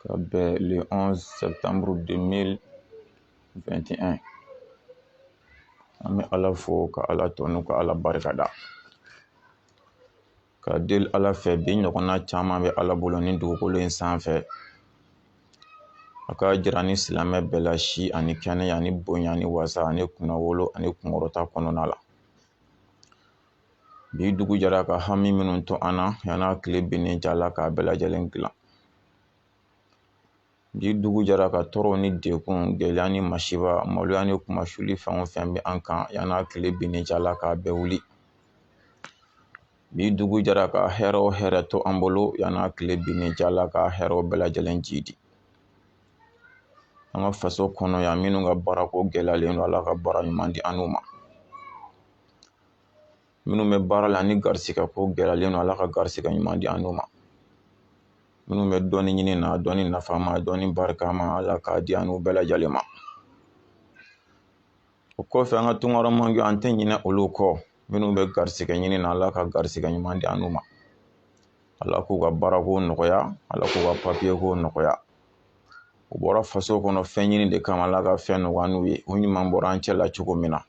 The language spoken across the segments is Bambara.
ka bɛn le 11 septembre 2021 an bɛ ala fo ka ala tanu ka ala barika da ka deli ala fɛ bi ɲɔgɔnna caman bɛ ala bolo ni dugukolo in sanfɛ a ka jira ni silamɛ bɛɛ la si ani kɛnɛya ani bonya ani wasa ani kunnawolo ani kunkɔrɔta kɔnɔna la bi dugu jɛra ka hami minnu to an na yan'a tile binnen cɛ ala k'a bɛɛ lajɛlen dilan bi dugu jɛra ka tɔɔrɔ ni degun gɛlɛya ni masiba maloya ni kunmasuli fɛn o fɛn bɛ an kan yan'a tile binnen cɛ ala k'a bɛɛ wuli bi dugu jɛra ka hɛrɛ o hɛrɛ to an bolo yan'a tile binnen cɛ ala ka hɛrɛw bɛɛ lajɛlen jiidi an ka faso kɔnɔ yan minnu ka baarako gɛlɛyalen don ala ka baara ɲuman di an n'u ma minnu bɛ baara la ni garisigɛ ko gɛlɛyalen don ala ka garisigɛ ɲuman di an n'u ma minnu bɛ dɔɔnin ɲini na dɔɔnin nafama dɔɔnin barikama ala k'a di an n'u bɛɛ lajɛlen ma o kɔfɛ an ka tunkaramɔgɔw an tɛ ɲinɛ olu kɔ minnu bɛ garisigɛ ɲini na ala ka garisigɛ ɲuman di an n'u ma ala k'u ka baarako nɔgɔya ala k'u ka papiye ko nɔgɔya u bɔra faso kɔnɔ fɛn ɲini de kama ala ka fɛn nɔgɔya n'u ye u ɲuman bɔra an cɛ la cogo min na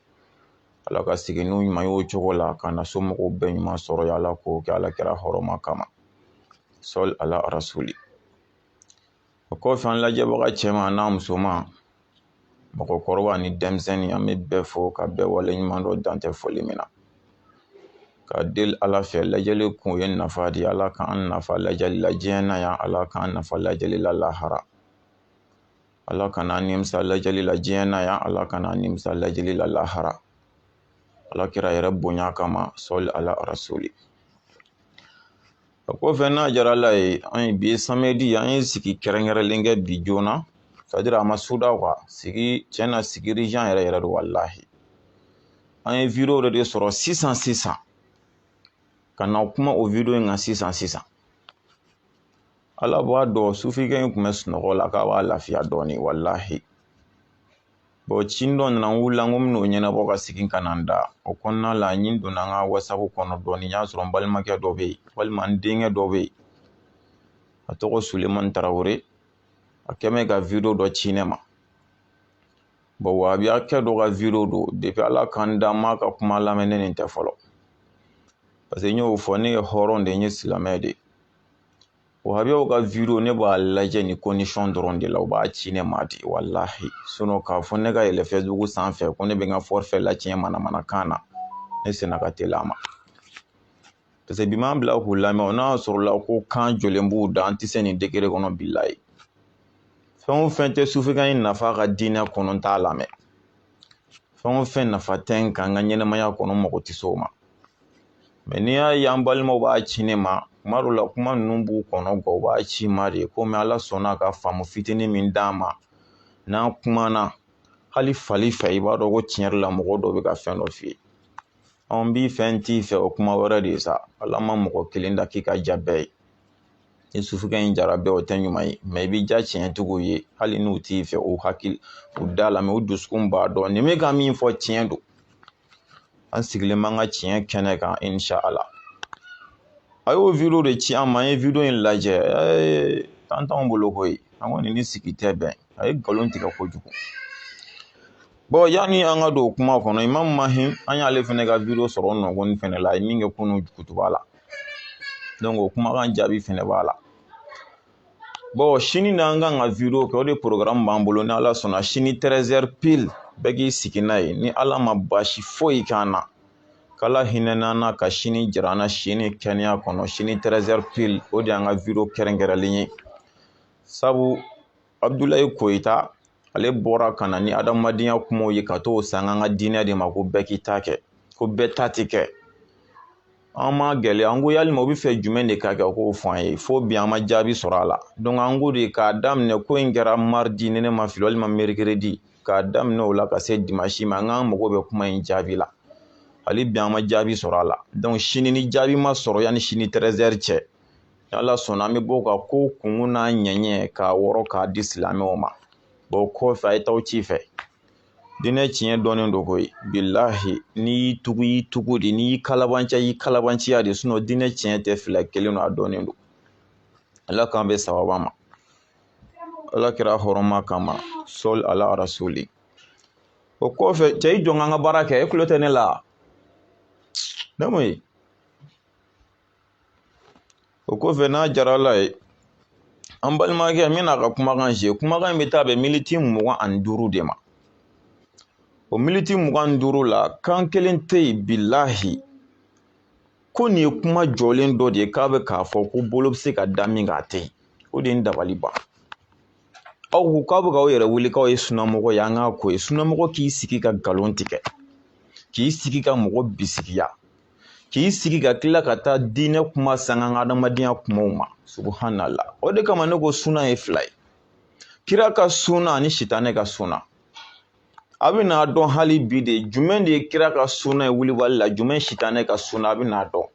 Ala ka segin n'u ɲuman y'o cogo la ka na somɔgɔw bɛɛ ɲuman sɔrɔ yan Ala k'o kɛ Ala kira hɔrɔma kama sɔli ala rasuli o kɔfɛ an lajɛbaga cɛman n'a musoman mɔgɔkɔrɔba ni denmisɛnnin an bɛ bɛɛ fo ka bɛɛ waleɲumandɔn dan tɛ foli min na ka deli ala fɛ lajɛli kun ye nafa di ala k'an nafa lajɛli la diɲɛ na yan ala k'an nafa lajɛli la lahara ala kana an nimisa lajɛli la diɲɛ na yan ala kana an nimisa lajɛli la lahara ala kira yɛrɛ bonya kama sɔli ala rasuli o kɔfɛ n'a jara ala ye an ye bi samedi an ye sigi kɛrɛnkɛrɛnlen kɛ bi joona c'est-à-dire a ma suda quoi sigi tiɲɛ na sigi urgent yɛrɛ yɛrɛ don walahi an ye video dɔ de sɔrɔ sisan sisan ka na kuma o video in kan sisan sisan ala b'a dɔn sufikɛ in tun bɛ sunɔgɔ la k'a b'a lafiya dɔɔnin walahi bon ci dɔ nana n wulila n ko n bɛn'o ɲɛnabɔ ka segin ka na n da o kɔnɔna la n ɲin donna n ka whatsapp kɔnɔ dɔɔnin n y'a sɔrɔ n balimakɛ dɔ bɛ yen walima n denkɛ dɔ bɛ yen a tɔgɔ sulemani tarawele a kɛ mɛ ka video dɔ ci ne ma bon wahabiyakɛ dɔ ka video don depuis ala k'an da n m'a ka kuma lamɛn ni nin tɛ fɔlɔ parce que n y'o fɔ ne ye hɔrɔn de n ye silamɛ de Wahabiyaw ka video ne b'a lajɛ ni condition dɔrɔn de la u b'a ci ne ma di walahi sinon k'a fɔ ne ka yɛlɛ Facebook sanfɛ ko ne bɛ n ka forfait lacɛn manamanakan na ne sena ka teli a ma parce que bi m'an bila k'u lamɛn o n'a sɔrɔla ko kan jɔlen b'u da an tɛ se nin degré kɔnɔ bilayi fɛn o fɛn tɛ sufikɛ in nafa ka diinɛ kɔnɔ n t'a lamɛn fɛn o fɛn nafa tɛ n kan n ka ɲɛnɛmaya kɔnɔ n mago tɛ se o ma mais n'i y'a ye an balimaw b'a ci ne ma kuma dɔw la kuma ninnu b'u kɔnɔ nka u b'a ci n ma de komi ala sɔnna ka faamu fitinin min d'an ma n'an kumana hali fali fɛ i b'a dɔn ko tiɲɛ yɛrɛ la mɔgɔ dɔ bɛ ka fɛn dɔ f'i ye an b'i fɛ n t'i fɛ o kuma wɛrɛ de ye sa ala ma mɔgɔ kelen da k'i ka ja bɛɛ ye ni sufikɛ in jara bɛɛ o tɛ ɲuman ye mais i bɛ ja tiɲɛtigiw ye hali n'u t'i fɛ u hakili u da la mais u dusukun b'a dɔn nin bɛ ka min fɔ tiɲɛ don an sigilen b'an ka tiɲɛ kɛnɛ kan insha ala a y'o video de ci an ma an ye video in lajɛ ɛɛ tan t'anw bolo koyi an kɔni ni sigi tɛ bɛn a ye nkalon tigɛ kojugu bon yanni an ka don kuma kɔnɔ imamu Mahi an y'ale fɛnɛ ka video sɔrɔ o nɔgɔnin fɛnɛ la a ye min kɛ kunun kutuba la o kumakan jaabi fɛnɛ b'a la bon sini na an kan ka wideyo kɛ o de programme b'an bolo ni ala sɔnna sini tɛrɛzɛri pili bɛɛ k'i sigi n'a ye ni ala ma baasi foyi k'an na k'ala hinɛ n'an na ka sini jira an na sini kɛnɛya kɔnɔ sini tɛrɛzɛri pili o de y'an ka wideyo kɛrɛnkɛrɛnlen ye sabu abudulayi koyita ale bɔra ka na ni adamadenya kumaw ye ka t'o san an ka diinɛ de ma ko bɛɛ k'i ta kɛ ko bɛɛ ta tɛ kɛ an m'a gɛlɛya an ko yalima u bɛ fɛ jumɛn de ka kɛ u k'o fɔ an ye fo bi an ma jaabi sɔrɔ a la donc an ko de k'a daminɛ ko in kɛra maridi ni ne ma fili walima merikiridi k'a daminɛ o la ka se dimasi ma an k'an mago bɛ kuma in jaabi la hali bi an ma jaabi sɔrɔ a la donc sini ni jaabi ma sɔrɔ yanni sini tɛrɛzɛri cɛ ala sɔnna an bɛ bɔ ka ko kunkun n'a ɲɛɲɛ k'a wɔrɔ k'a di silamɛw ma bon o kɔfɛ a ye taa ci fɛ diinɛ tiɲɛ dɔnnen don koyi bilahi n'i y'i tugu i y'i tugu de n'i y'i kalabanciya y'i kalabanciya de sinon diinɛ tiɲɛ tɛ fila kelen don a dɔnnen don ala k'an bɛn sawaba ma ala kira horoma kama sɔli ala rasuli o kɔfɛ cɛ i jɔ an ka baara kɛ e kulo tɛ ne la ne mun ye o kɔfɛ n'a jara ala ye an balimakɛ n bɛna a ka kumakan zi kumakan in bɛ taa bɛn militi mugan ani duuru de ma o militi mugan ni duuru la kan kelen tɛ yen bilahi ko nin ye kuma jɔlen dɔ de ye k'a bɛ k'a fɔ ko bolo bɛ se ka da min kan a tɛ yen o de ye n dabali ban aw ko k'aw bɛ k'aw yɛrɛ wele k'aw ye sunamɔgɔ ye an k'a ko ye sunamɔgɔ k'i sigi ka nkalon tigɛ k'i sigi ka mɔgɔ bisigiya k'i sigi ka tila ka taa diinɛ kuma sanga an ka adamadenya kumaw ma subuhanala o de kama ne ko sunna ye fila ye kira ka sunna ani sitanɛ ka sunna a bɛn'a dɔn hali bi de jumɛn de ye kira ka sunna ye wulibali la jumɛn ye sitanɛ ka sunna a bɛn'a dɔn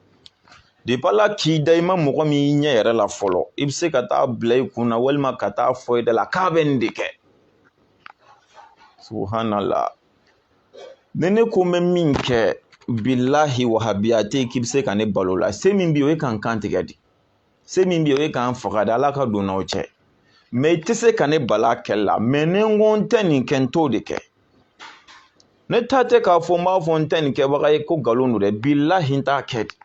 depi ala k'i da i ma mɔgɔ min y'i ɲɛ yɛrɛ la fɔlɔ i bɛ se ka taa bila i kun na walima ka taa fɔ i da la k'a bɛ nin de kɛ subuhanala ni ne ko n bɛ min kɛ bilahi wahabiya tɛ k'i bɛ se ka ne bal'o la se min bɛ yen o ye ka n kan tigɛ de se min bɛ yen o ye ka n faga de ala ka don n'aw cɛ mɛ i tɛ se ka ne bal'a kɛli la mɛ ni n ko n tɛ nin kɛ n t'o de kɛ ne ta tɛ k'a fɔ n b'a fɔ n tɛ nin kɛbaga ye ko nkalon don dɛ bilahi n t'a kɛ de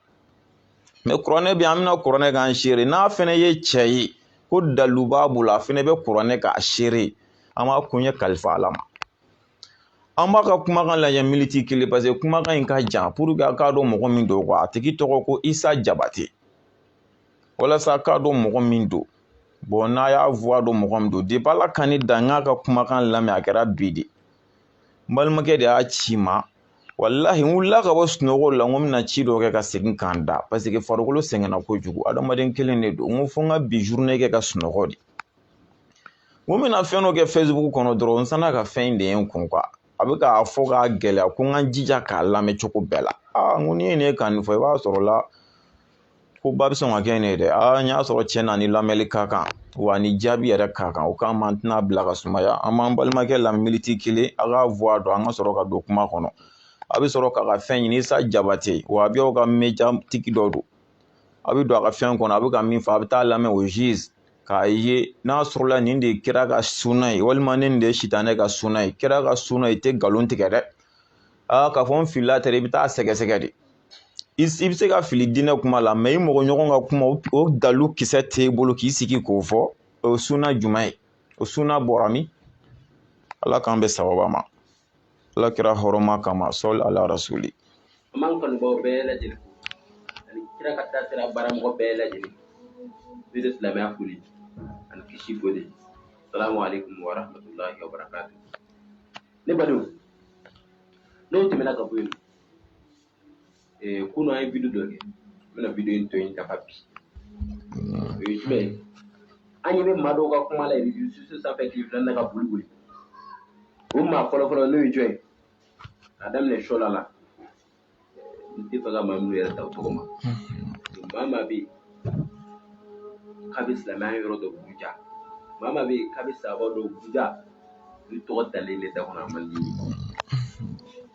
mɛ kuranɛ bɛ an bɛna kuranɛ k'an seere n'a fana ye cɛ ye ko dalu b'a bolo a fana bɛ kuranɛ k'a seere an b'a kun ye kalifa ala ma an b'a ka kumakan lajɛ militi kelen paseke kumakan in ka jan puruke a k'a dɔn mɔgɔ min don a tigi tɔgɔ ko isa jabate walasa k'a dɔn mɔgɔ min don bɔn n'a y'a vuwa dɔn mɔgɔ min don depi ala ka ne dan n k'a ka kumakan lamɛn a kɛra bi de n balimakɛ de y'a ci n ma walahi n wulila ka bɔ sunɔgɔ la n ko n bɛna ci dɔ kɛ ka segin ka n da paseke farikolo sɛgɛnna kojugu adamaden kelen de don n ko fo n ka bi zurune kɛ ka sunɔgɔ de ko n bɛna fɛn dɔ kɛ fɛsibuku kɔnɔ dɔrɔn n sanna ka fɛn in de ye n kun a bɛ k'a fɔ k'a gɛlɛya ko n ka jija k'a lamɛn cogo bɛɛ la aa n ko n'i ye ne kan nin fɔ i b'a sɔrɔ la koba bɛ sɔn ka kɛ nin ye dɛ aa n y'a sɔrɔ cɛn na a ni lamɛnli ka kan wa a ni jaabi yɛrɛ ka kan o kama an tɛn'a bila ka sumaya an b'an balimakɛ lamɛn militi kelen a k'a vuwa dɔn an ka sɔrɔ ka don kuma kɔnɔ a bɛ sɔrɔ k'a ka fɛn ɲini isa jabate wahabiya ka mediya tigi dɔ don a bɛ don a ka fɛn kɔnɔ a bɛ ka min fɔ a bɛ taa a lamɛn o juste k'a ye n'a sɔrɔla nin de ye kira ka sunna ye walima ne nin de ye sitanɛ ka sunna ye kira ka sunna ye i tɛ nkalon tigɛ dɛ aa k'a fɔ n filila tɛ i bɛ taa sɛgɛsɛgɛ de i bɛ se ka fili diinɛ kuma la mɛ i mɔgɔ ɲɔgɔn ka kuma o dalu kisɛ t'e bolo k'i sigi k'o fɔ o ye sunna jumɛn ye o sunna bɔra min ala k'an bɛn sababa ma ala kira hɔrɔma kama sɔli ala rasuli an b'an kanubaaw bɛɛ lajɛlen fo ani kira ka taasira baaramɔgɔ bɛɛ lajɛlen n'o tɛ silamɛya foli ani kisi foli salamu aleykum wa rahmatulahi wa barakatu ne badenw n'o tɛmɛna ka bɔ yen ee kunun an ye video dɔ kɛ n bɛna video in tɔ in dafa bi o ye jumɛn ye an ɲɛ bɛ maa dɔw ka kuma la reseaux sociaux sanfɛ tile fila in na ka boli boli o maa fɔlɔ fɔlɔ n'o ye jɔn ye k'a daminɛ sɔla la n tɛ fɛ ka maa minnu yɛrɛ ta o tɔgɔ ma maa maa bɛ yen k'a bɛ silamɛya yɔrɔ dɔ buruja maa maa bɛ yen k'a bɛ sahaba dɔ buruja olu tɔgɔ dalen ne da kɔnɔ a man di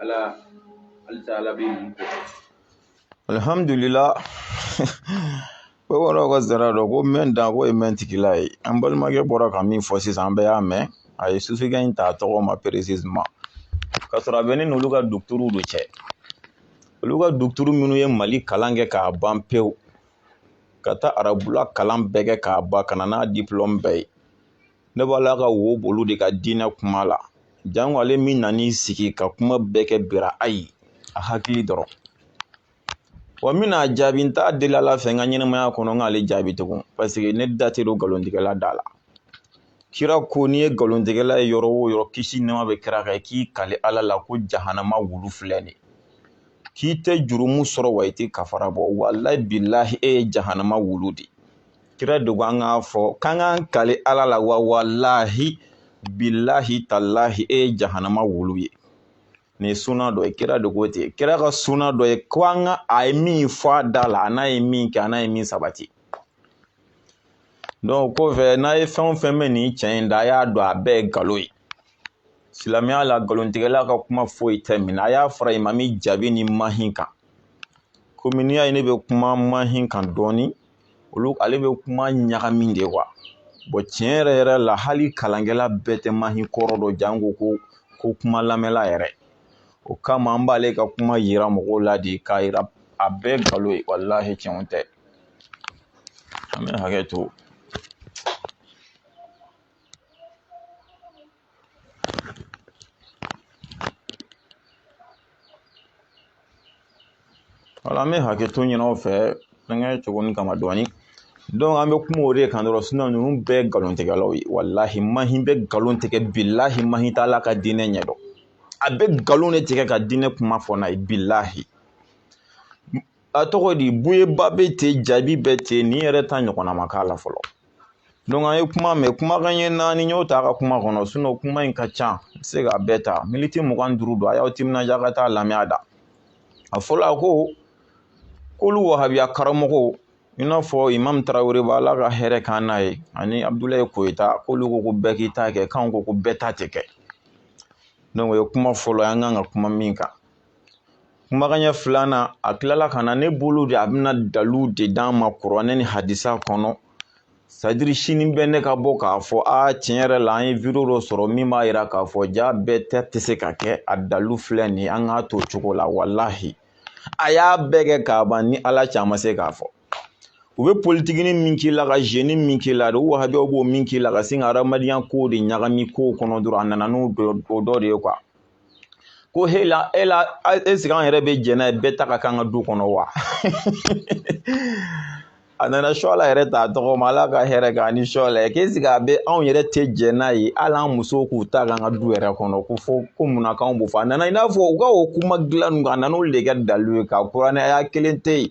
ala halisa ala bɛ yen ko alihamudulila ko wɔɔrɔw ka zara dɔ ko mɛn dan ko ye mɛn tigila ye an balimakɛ bɔra ka min fɔ sisan an bɛɛ y'a mɛn a ye sufikɛ in ta tɔgɔ ma précisément ka sɔrɔ a bɛ ne n'olu ka duguturu de cɛ olu ka duguturu minnu ye mali kalan kɛ k'a ban pewu ka taa arabula kalan bɛɛ kɛ k'a ban ka na n'a dipulɔmu bɛɛ ye ne b'a la ka wo bolo de ka diinɛ kuma la janko ale min nan'i sigi ka kuma bɛɛ kɛ birayi a hakili dɔrɔn wa n bɛna jaabi n t'a deli ala fɛ n ka ɲɛnamaya kɔnɔ n k'ale jaabi tugun paseke ne da tɛ don nkalontigɛla da la kira ko n'i ye nkalontigɛla ye yɔrɔ o yɔrɔ kisi nɛma bɛ kira kan k'i kali ala la ko jahanama wulu filɛ nin k'i tɛ jurumu sɔrɔ wa i tɛ kafara bɔ walayi bilahi e ye jahanama wulu de ye kira de ko an k'a fɔ k'an k'an kali ala la wa walahi bilahi talahi e ye jahanama wulu ye nin ye suna dɔ ye kira de ko ten kira ka suna dɔ ye ko an ka a ye min fɔ a da la a n'a ye min kɛ a n'a ye min sabati donc kɔfɛ n'a ye fɛn o fɛn bɛ nin cɛ in da a y'a dɔn a bɛɛ ye nkalon ye silamɛya la nkalontigɛla ka kuma foyi tɛ minɛ a y'a fara imami jaabi ni mahi kan komi n'i y'a ye ne bɛ kuma mahi kan dɔɔnin olu ale bɛ kuma ɲagami de quoi bɔn tiɲɛ yɛrɛ yɛrɛ la hali kalankɛla bɛɛ tɛ mahi kɔrɔ dɔn janko ko kuma lamɛnla yɛrɛ o kama an b'ale ka kuma yira mɔgɔw la de k'a yira a bɛɛ nkalon ye walahi tiɲɛ tɛ an bɛ hakɛ to wala an bɛ hakɛ to ɲini aw fɛ fɛnkɛ cogo nin kama dɔɔni donc an bɛ kuma o de kan dɔrɔn sinon ninnu bɛɛ nkalontigɛlaw ye walahi mahi bɛ nkalon tigɛ bilahi mahi t'ala ka diinɛ ɲɛdɔn a bɛ nkalon de tigɛ ka diinɛ kuma fɔ n'a ye bilahi a tɔgɔ di buye ba bɛ ten jaabi bɛ ten nin yɛrɛ ta ɲɔgɔnna ma k'a la fɔlɔ donc an ye kuma mɛn kumakan ye naani n y'o ta a ka kuma kɔnɔ sinon kuma in ka ca n se k'a bɛɛ ta miniti mugan duuru don a y'aw timinandiya ka taa lamɛn a da a fɔlɔ a ko k'olu wahabiya karamɔgɔw i n'a fɔ imam tarawele b'ala ka hɛrɛ kan n'a ye ani abudulayi koyita k'olu ko ko bɛɛ k'i ta kɛ k'anw ko ko bɛɛ ta tɛ kɛ donc o ye kuma fɔlɔ ye an kan ka kuma min kan kumakan ɲɛ filanan a tilala ka na ne bolo de a bɛna dalu de d'an ma kuranɛ ni hadisa kɔnɔ sadiri sini bɛ ne ka bɔ k'a fɔ a tiɲɛ yɛrɛ la an ye video dɔ sɔrɔ min b'a yira k'a fɔ ja bɛɛ ta tɛ se ka kɛ a dalu filɛ nin ye an k'a to cogo la walahi a y'a bɛɛ kɛ k'a ban ni ala cɛ a ma se k'a fɔ u bɛ politikini min k'i la ka zeni min k'i la de u wahabiyaw b'o min k'i la ka sin ka hadamadenya kow de ɲagami kow kɔnɔ dɔrɔn a nana n'o dɔ de ye kuwa ko he la e la ɛsike an yɛrɛ bɛ jɛn n'a ye bɛɛ ta ka k'an ka du kɔnɔ wa a nana suwala yɛrɛ t'a tɔgɔ ma ala ka hɛrɛ k'a ni suwala ye k'ɛsike a bɛ anw yɛrɛ tɛ jɛn n'a ye hali an musow k'u ta k'an ka du yɛrɛ kɔnɔ ko fo ko munna k'anw b'o fɔ a nana i n'a fɔ u ka o kuma dilan ninnu a nana olu de kɛ dalu ye k'a kuranɛ aya kelen tɛ yen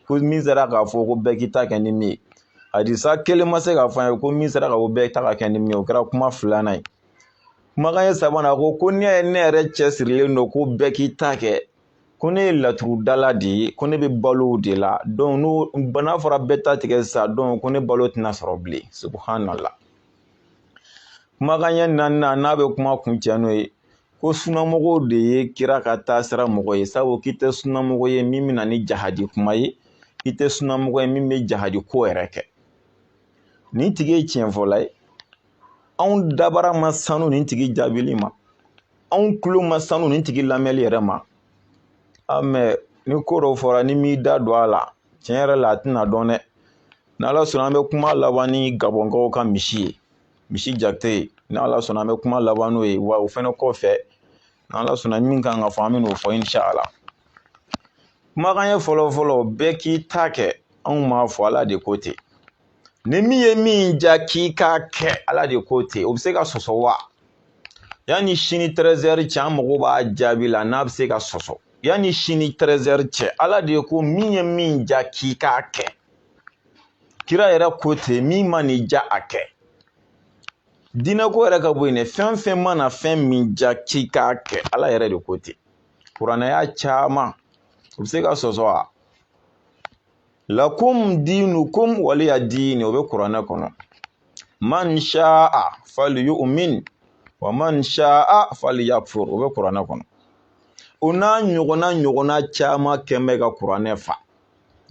ko min sera k'a fɔ ko bɛɛ k'i ta kɛ ni min ye hadisa kelen ma se k'a fɔ an ye ko min sera ka ko bɛɛ ta ka kɛ ni min ye o kɛra kuma filanan ye Kumakan ɲɛ sabanan a ko ko n'i y'a ye ne yɛrɛ cɛsirilen don ko bɛɛ k'i ta kɛ ko ne ye laturudala de ye ko ne bɛ balo o de la dɔn n'a fɔra bɛɛ ta tɛ kɛ sa dɔn ko ne balo tɛna sɔrɔ bilen subhanala kumakan ɲɛ naanian n'a bɛ kuma kuncɛ n'o ye ko sunamɔgɔw de ye kira ka taasira mɔgɔ ye sabu k'i tɛ sunamɔgɔ ye min bɛna ni jahadi kuma ye i tɛ sunamɔgɔ ye min bɛ jahadi ko yɛrɛ kɛ nin tigi ye tiɲɛfɔla ye anw dabara ma sanu nin tigi jaabili ma anw tulo ma sanu nin tigi lamɛnli yɛrɛ ma a mɛ ni ko dɔ fɔra n'i m'i da don a la tiɲɛ yɛrɛ la a tɛna dɔn dɛ n'ala sɔnna an bɛ kuma laban ni gabɔnkaw ka misi ye misi jate n'ala sɔnna an bɛ kuma laban n'o ye wa o fɛnɛ kɔfɛ n'ala sɔnna min kan ka fɔ an bɛn'o fɔ inshala kumakan ɲɛ fɔlɔ fɔlɔ bɛɛ k'i ta kɛ anw m'a fɔ ala de ko ten ni min ye min ja k'i k'a kɛ ala de ko ten o bɛ se ka sɔsɔ wa yanni sini tɛrɛzɛri cɛ an mago b'a jaabi la n'a bɛ se ka sɔsɔ yanni sini tɛrɛzɛri cɛ ala de ko min ye min ja k'i k'a kɛ kira yɛrɛ ko ten min man'i ja a kɛ diinɛko yɛrɛ ka bɔ yen dɛ fɛn fɛn mana fɛn min ja k'i k'a kɛ ala yɛrɛ de ko ten kuranɛ aya caman u bɛ se ka sɔsɔ wa lakum dinukum waliya dini o bɛ kuranɛ kɔnɔ man sha'a falyu'min wa man sha'a falyakfur o bɛ kuranɛ kɔnɔ o n'a ɲɔgɔnna ɲɔgɔnna caman kɛ bɛ ka kuranɛ fa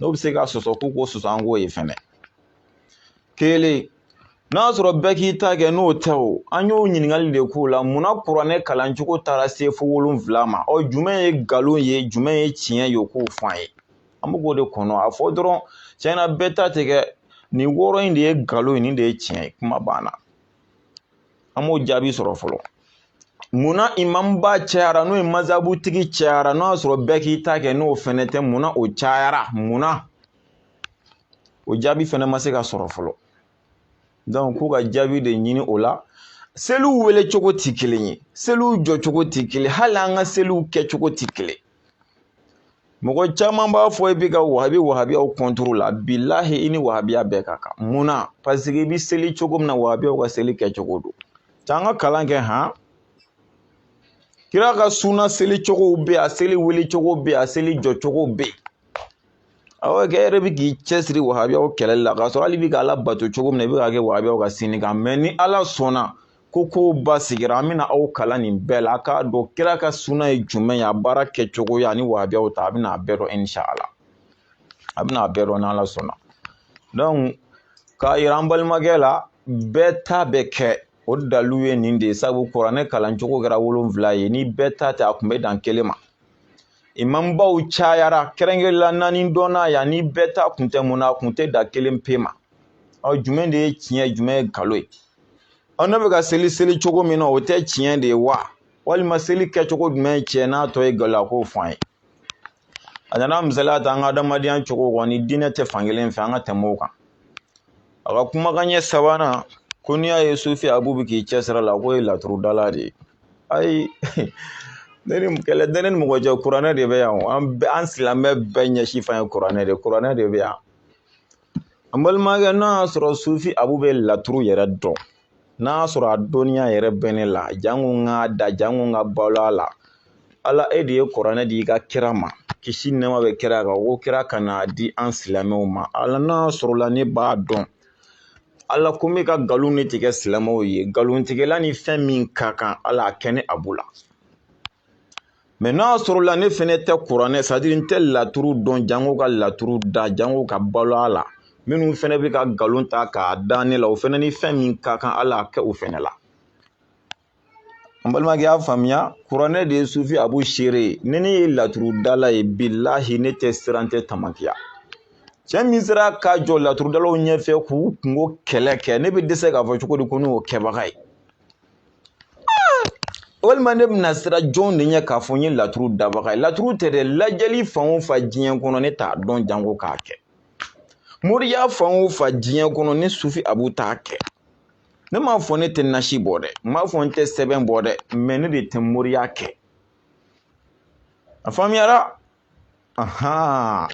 n'o bɛ se ka sɔsɔ o k'o sɔsɔ an k'o ye fɛnɛ kelen n'a sɔrɔ bɛɛ k'i ta kɛ n'o tɛ o an y'o ɲininkali de k'o la munna kuranɛ kalancogo taara se fo wolonwula ma ɔ jumɛn ye nkalon ye jumɛn ye tiɲɛ ye o k'o fɔ an ye an bɛ k'o de kɔnɔ a fɔ dɔrɔn tiɲɛna bɛɛ ta tɛ kɛ nin wɔɔrɔ in de ye nkalon ye nin de ye tiɲɛ ye kuma banna an m'o jaabi sɔrɔ fɔlɔ munna imamba cayara n'o ye mazabutigi cayara n'o y'a sɔrɔ bɛɛ k'i ta kɛ n'o fɛnɛ tɛ munna o cayara munna o jaabi fɛnɛ ma se ka sɔrɔ fɔlɔ dɔnku k'u ka jaabi de ɲini o la seliw wele cogo tɛ kelen ye seliw jɔcogo tɛ kelen hali an ka seliw kɛcogo tɛ kelen mɔgɔ caman b'a fɔ i bɛ ka wahabi wahabiyaw kɔntoro la bilahi i ni wahabiya bɛɛ ka kan mun na paseke i bɛ seli cogo min na wahabiyaw ka seli kɛcogo don t'an ka kalan kɛ han kira ka suna seli cogow bɛ a seli wele cogo bɛ a seli jɔ cogo bɛ awɔ kɛ yɛrɛ bi k'i cɛsiri wahabiyaw kɛlɛli la k'a sɔrɔ hali i bi ka ala bato cogo min na i bɛ k'a kɛ wahabiyaw ka sinni kan mɛ ni ala sɔnna ko kow basigira an bɛna aw kalan nin bɛɛ la a k'a dɔn kira ka suna ye jumɛn ye a baara kɛcogoya ani wahabiyaw ta a bɛna a bɛɛ dɔn inshala a bɛna a bɛɛ dɔn n'ala sɔnna dɔnku k'a yira an balimakɛ la bɛɛ ta bɛ kɛ o dalilu ye nin de ye sabu kuranɛ kalancogo kɛra wolonfila ye ni bɛɛ ta tɛ a kun bɛ dan kelen ma imamubaw cayara kɛrɛnkɛrɛnla naani dɔnna yan ni bɛɛ ta kun tɛ mun na a kun tɛ dan kelen pe ma ɔ jumɛn de ye tiɲɛ jumɛn ye nkalon ye ɔ ne bɛ ka seli seli cogo min na o tɛ tiɲɛ de ye wa walima seli kɛcogo jumɛn ye tiɲɛ n'a tɔ ye nkalon ye a k'o fɔ an ye a nana misaliya ta an ka adamadenya cogo kɔni diinɛ tɛ fankelen fɛ an ka tɛmɛ o kan a ka kumakan ɲɛ sabanan ko n'i y'a ye sufi abu bɛ k'i cɛsiri a la k'o ye laturudala de ye ayi nin kɛlɛ tɛ ne ni mɔgɔ cɛ kuranɛ de bɛ yan an bɛɛ an silamɛ bɛɛ ɲɛsin fan ye kuranɛ de kuranɛ de bɛ yan an balimakɛ n'a y'a sɔrɔ sufi abu bɛ laturu yɛrɛ dɔn n'a y'a sɔrɔ a dɔnniya yɛrɛ bɛ ne la janko n k'a da janko n ka balo a la ala e de ye kuranɛ di i ka kira ma kisi nɛɛma bɛ kira kan ko kira ka n'a di an silamɛw ma ala n'a sɔrɔla ne b'a dɔn ala ko n bɛ ka nkalon de tigɛ silamɛw ye nkalontigɛla ni fɛn min ka kan ala a kɛ ne abu la mɛ n'a sɔrɔla ne fɛnɛ tɛ kuranɛ sadiri n tɛ laturu dɔn jango ka laturu da jango ka balo a la minnu fɛnɛ bɛ ka nkalon ta k'a da ne la o fɛnɛ ni fɛn min ka kan ala a kɛ o fɛnɛ la an balimakɛ y'a faamuya kuranɛ de ye sufi abu seere ye ni ne ye laturudala ye bilahi ne tɛ siran n tɛ tamakiya cɛ min sera ka jɔ laturudalaw ɲɛfɛ k'u kunko kɛlɛ kɛ ne bɛ dɛsɛ k'a fɔ cogo di ko ne y'o kɛbaga ye walima ne bɛna siran jɔn de ɲɛ k'a fɔ n ye laturu dabaga ye laturu tɛ dɛ lajɛli fan o fan diɲɛ kɔnɔ ne t'a dɔn janko k'a kɛ moriya fan o fan diɲɛ kɔnɔ ne sufi abu t'a kɛ ne m'a fɔ ne tɛ nasi bɔ dɛ n m'a fɔ n tɛ sɛbɛn bɔ dɛ mɛ ne de tɛ moriya kɛ a faamuyara ahan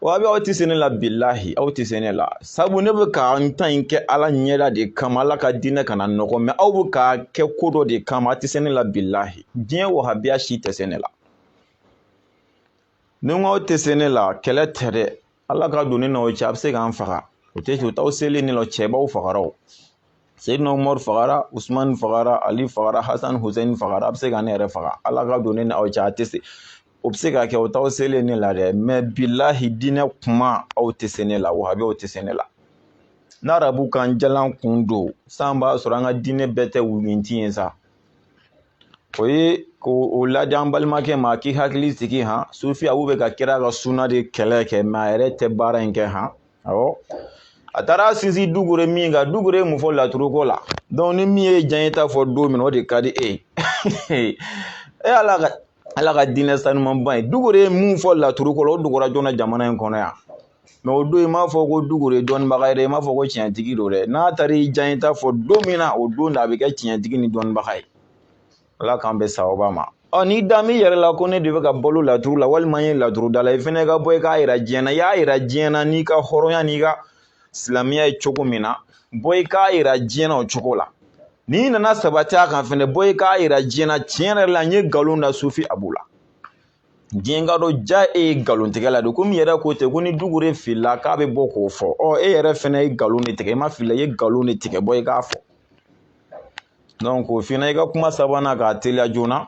wahabiya aw tɛ se ne la bilahi aw tɛ se ne la sabu ne bɛ ka n ta in kɛ ala ɲɛda de kama ala ka diinɛ kana nɔgɔ mɛ aw bɛ k'a kɛ ko dɔ de kama a tɛ se ne la bilahi diɲɛ wahabiya si tɛ se ne la ni n ko aw tɛ se ne la kɛlɛ tɛ dɛ ala ka don ne n'aw cɛ a bɛ se k'an faga o tɛ o t'aw selen ne la cɛbaw fagara o seyidina umaru fagara usumani fagara ali fagara hasan husɛni fagara a bɛ se ka ne yɛrɛ faga ala ka don ne n'aw cɛ a tɛ se o bɛ se ka kɛ o t'aw selen ne la dɛ mɛ bilahi diinɛ kuma aw tɛ se ne la wahabiyaw tɛ se ne la n'arabu kan jalan kun don san b'a sɔrɔ an ka diinɛ bɛɛ tɛ wulunti ye sa o ye k'o ladi an balimakɛ ma k'i hakili sigi han sufi abu bɛ ka kira ka suna de kɛlɛ kɛ mɛ a yɛrɛ tɛ baara in kɛ han awɔ a taara sinsin dugure min kan dugure ye mun fɔ laturuko la donc ni min y'i diyanye ta fɔ don min o de ka di e ye e ala ka ala ka diinɛ sanumanba in dugure ye mun fɔ laturuko la o dogora jɔn na jamana in kɔnɔ yan mɛ o don i m'a fɔ ko dugure ye dɔnnibaga ye dɛ i m'a fɔ ko tiɲɛtigi don dɛ n'a taara i diyanye ta fɔ don min na o don de a bɛ kɛ tiɲɛtigi ni dɔnnibaga ye ala k'an bɛ sababa ma ɔ n'i da min yɛrɛ la ko ne de bɛ ka balo laturu la walima n ye laturudala ye fɛnɛ ka bɔ i k'a yira diɲɛ na i y'a yira diɲɛ na n'i ka hɔrɔnya n'i ka silamɛya ye cogo min na bɔ i k'a yira diɲɛ na o cogo la n'i nana sabati a kan fɛnɛ bɔ i k'a yira diɲɛ na tiɲɛ yɛrɛ la n'i ye nkalon da sufi abu la diɲɛ k'a dɔn ja e ye nkalontigɛla de komi i yɛrɛ ko ten ko ni dugure filila k'a bɛ bɔ k'o fɔ ɔ e yɛrɛ fɛnɛ ye nkalon de tigɛ i ma fili i ye nkalon de tigɛ bɔ i k'a fɔ donc o fana i ka kuma sabanan k'a teliya joona